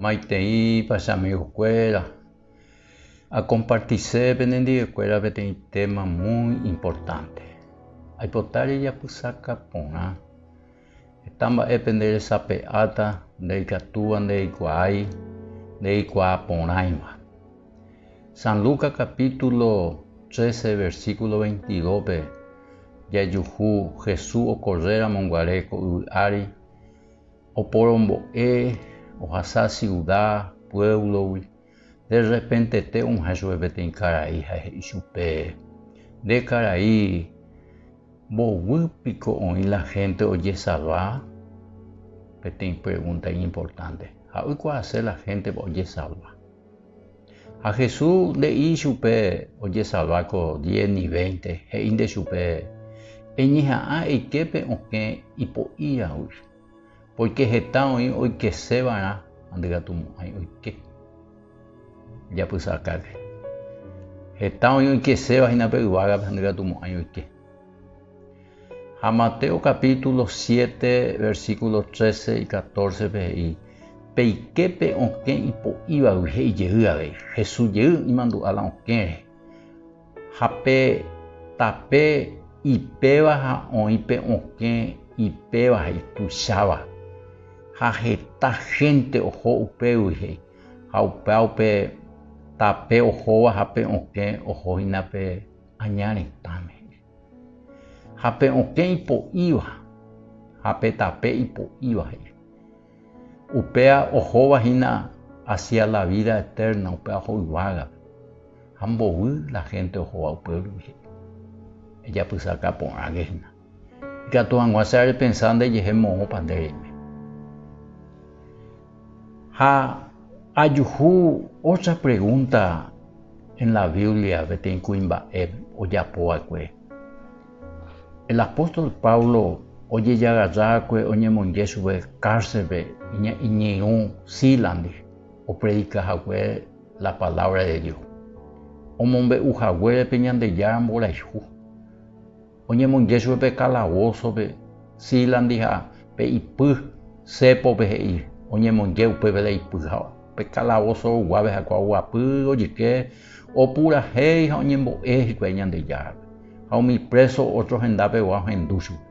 Maiteipa che amigokuéra akompartise penendivekuéra peteĩ téma muy importante. Aipota rejapysaka porã. Heta mba'épe nderesape'áta, ndaikatúva ndereikuaái, ndereikuaa porãiva. San Lucas capítulo 13 versículo 22-pe jajuhu Jesús okorréramo guare ko yvy ári, Oporombo'e, ohasa siuda, puévlogui. De rrepentete og̃uahẽ chupe peteĩ karai ha he'i chupe, Nde karai, mboyvy piko oĩ la hénte ojesalva? Peteĩ pregúnta iñimportánte. Ja'ékuaase la héntepa ojesalva. Ha Jesús nde'i ichupe ojesalva ko diez ni veinte, he'i nde chupe, Eñeha'ã eike pe okẽ ipo'íragui, pórke heta oĩ oikese va'erã ha ndygatumo'ãi oike japysakágui. Heta oĩ oikeséva hína pe yvágape ha ndygatumo'ãi oike. Ha Mateo capítulo siete, versículo trece y catorce-pe he'i, Pe iképe okẽ ipo'ívagui he'i jey avei, Jesús jey imandu'a la okẽre. Ha pe tape ipéva ha oĩ pe okẽ ipéva ha ituicháva. Ha heta hénte oho upégui he'i, ha upéva pe tape ohóva ha pe okẽ oho hína pe aña retãme he'i. Ha pe okẽ ipo'íva ha pe tape ipo'íva he'i. Upéa ohóva hína hacia la vida eterna, upéva oho yvágape. Ha mbovy la gente ohóva upévagui he'i, Ejapysaka porãke hína. Ikatu hag̃ua che arepensa ndejehe moõpa nde reime. Ha ajuhu ótra pregúnta en la Biblia peteĩ kuimba'e ojapo va'ekue. El apóstol Pablo ojejagarra va'ekue oñemonje chupe kárselpe iñirũ Sílandi opredika hague la palávra de Dios, omombe'u haguére pe Ñandejára mborayhu. oñemonje chupe pe kalavosope, Sílandi ha pe ipy Sépope he'i, oñemonje upépe la ipy ha pe kalavoso oguápe ha kuaguapy ojyke opurahéi ha oñembo'e hikuái Ñandejárape, ha umi préso ótro hendapegua ohendu chupe.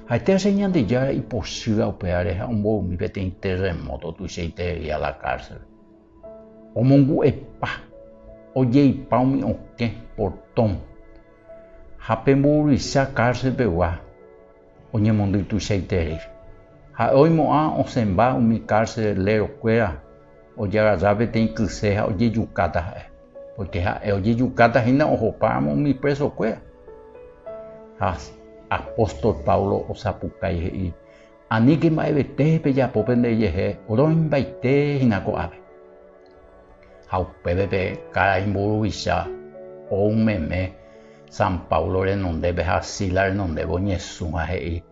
Ha'etéacha Ñandejára ipochýa upévare ha omboymi peteĩ terremóto tuichaiterei a la kárselpe. Omongu'epa, ojeipa umi okẽ portón ha pe mburuvicha cárcel pegua oñemondy tuichaiterei. Ha'e oimo'ã osẽmba umi carcelero kuéra ojagarra peteĩ kyse ha ojejukáta ha'e, porque ha'e ojejukáta hína ohopáramo umi preso kuéra. Ha apóstol Pablo osapukái he'i, Aníke mba'evete pejapo pendejehe roimbaite hína ko'ápe. Ha upépe pe karai mburuvicha ou meme San Pablo renondépe ha Silas renondépe oñesũ ha he'i,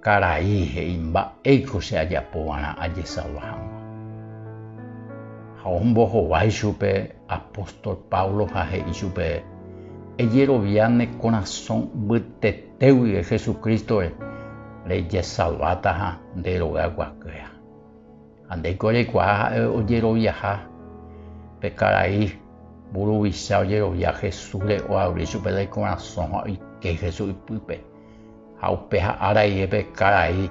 Karai, he'i, mba'éiko che ajapova'erã ajesava hag̃ua. Ha ombohovái chupe apóstol Pablo ha he'i chupe, Ejerovia ne korasõ mbytete. Pe guive Jesucristo-re rejesalváta ha nde rogayguakuéra. Ha ndéiko reikuaa ha'e ojeroviaha pe karai mburuvicha ojerovia Jesús-re oavri chupe la ikorasõ ha oike Jesús ipýpe. Ha upéha ára rire pe karai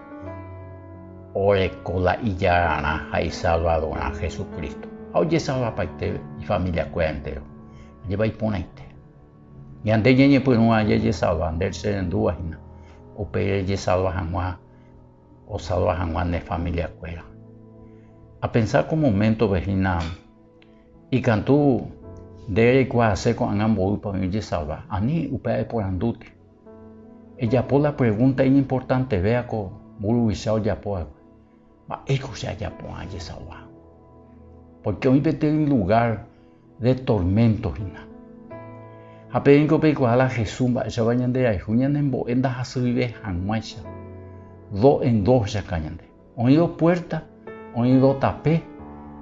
oreko la ijararã ha isalvadorrã Jesucristo ha ojesalvapaite ifamiliakuéra entéro. Ajépa iporãite! Ñande ñañepyrũva jajesalva nde rrendúva hína, upe jajesalva hag̃ua osalva hag̃ua ne familiakuéra. Apensa ko moméntove hína, ikatu nde reikuaase ko'ág̃a mboýpa oĩ ojesalva? Ani upe aeporandúta, ejapo la pregúnta iñimportanteve ko mburuvicha ojapo va'ekue, Mba'éiko che ajapo'ã ajesauva? Pórke oĩ peteĩ lugár de torménto hína. Ha peẽko peikuaa la Jesús mba'éichapa ñanderayhu ñanembo'e ndahasyive hag̃uáicha. Do en do ohechauka ñande. Oĩ do puérta, oĩ do tape,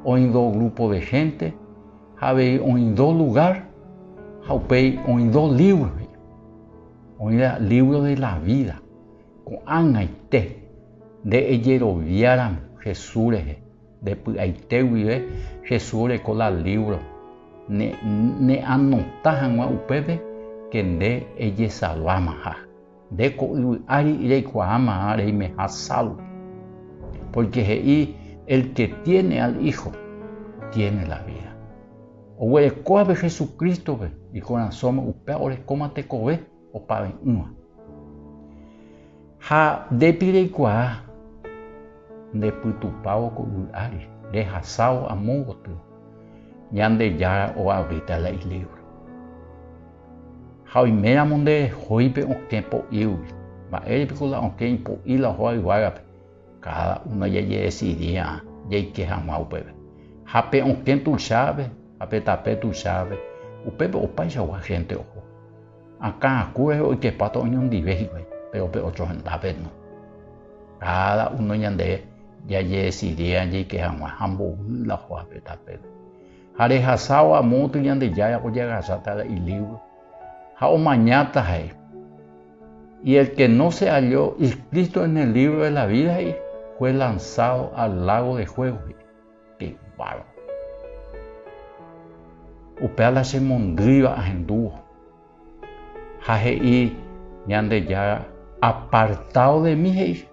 oĩ do grúpo de hénte, ha avei oĩ do lugár, ha upéi oĩ do lívro he'i. Oĩva lívro de la vída. Ko'ag̃aite, nde ejeroviáramo Jesús rehe, nde py'aite guive Jesús oreko la lívro, ne'anota hag̃ua upépe ke nde ejesalvámaha. Nde ko yvy ári reikuaámaha reimeha salvo. Pórke he'i, El ke tiéne al Hijo, tiéne la vída. Oguerekóvape Jesucrístope ikorasõme, upéva orekóma tekove. opave'ỹva. Ha ndépi reikuaa ndepytupávo ko yvy ári, rehasávo amo gotyo, Ñandejára oavýta la ilívro. Ha oiméramo nde rehoípe okẽ po'ígui, mba'ére piko la okẽ ipo'i la oho ayvágape, káda uno jajedesidia jaike hag̃ua upépe. Ha pe okẽ tuichápe ha pe tape tuichápe, upépe opaichagua hénte oho. Akã akue oikepáta oñondive hikuái, péro pe ócho hendápe no. Káda uno ñande jajedesidia jaike hag̃ua ha mbovy la joape tapére. Ha rehasávo amo gotyo Ñandejára ojeagasáta la ilívro ha omañáta he'i, Y el que no se halló inscrito en el libro de la vida he'i, fue lanzado al lago de fuego he'i. Pe barco. Upéva la che mondýiva ahendúvo. Ha he'i Ñandejára, Apartao de mí, he'i.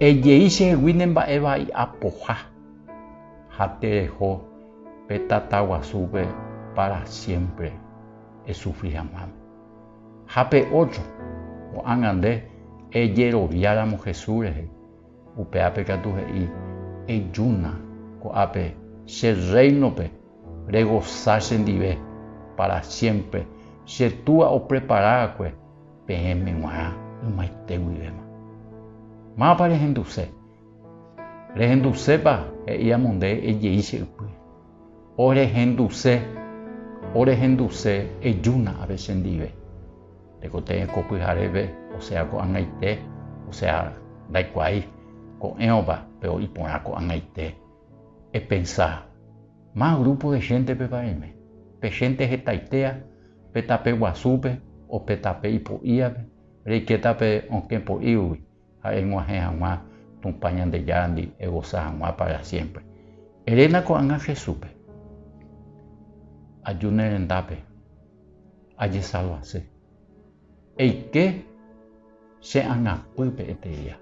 Ejei chehegui ne mba'e vai apoha. Ha tereho pe tata guasúpe para siempre esufri haguãme. Ha pe otro, ko'ág̃a nde ejeroviáramo Jesús rehe. Upéape katu he'i, Ejúna ko'ápe che Rréinope regosa chendive pára siémpre, che Túa oprepara va'ekue peẽme g̃uarã ymaite guivéma. Mávapa rehenduse? Rehendusépa? he'i amo nde ejei che ypýre. Orehenduse, orehenduse, ejúna ápe chendive. Tekotevẽ ko pyhareve, osea ko'ag̃aite, osea ndaikuaái ko'ẽrõpa pe oĩ porã ko'ag̃aite. Epensa, Más grupo de xéntepepa reime, pe xénte hetaitéa pe tape guasúpe o pe tape ipo'íape, reikéta pe okẽ po'ígui, ha eg̃uahẽ hag̃ua Tupã Ñandejárandi egosa hag̃ua pára siémpre. Eréna ko'ág̃a Jesúspe, Aju ne rendápe, ajesalvase. Eike che angapýpe eteria,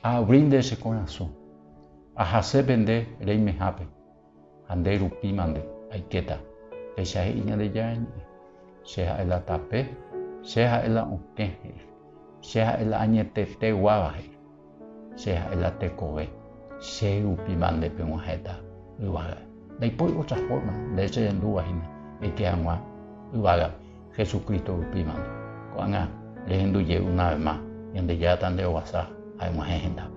aabrínte che korasõ, ahase pende reimehápe. Ha nde rupi mante, aikéta. Péicha he'i Ñandejára Ñe'ẽ, Che ha'e la tape, Che ha'e la okẽ, he'i. Che ha'e la añetete guáva, he'i. Che ha'e la tekove. Che rupi mante peg̃uahẽta yvága. Ndaipóri ótra fórma, de hecho jandúva hína, eike hag̃ua yvága Hesu Crísto rupi mante. Ko'ág̃a rehendu jey una ves más, Ñandejára tande'ovasa ha eg̃uahẽ hendápe.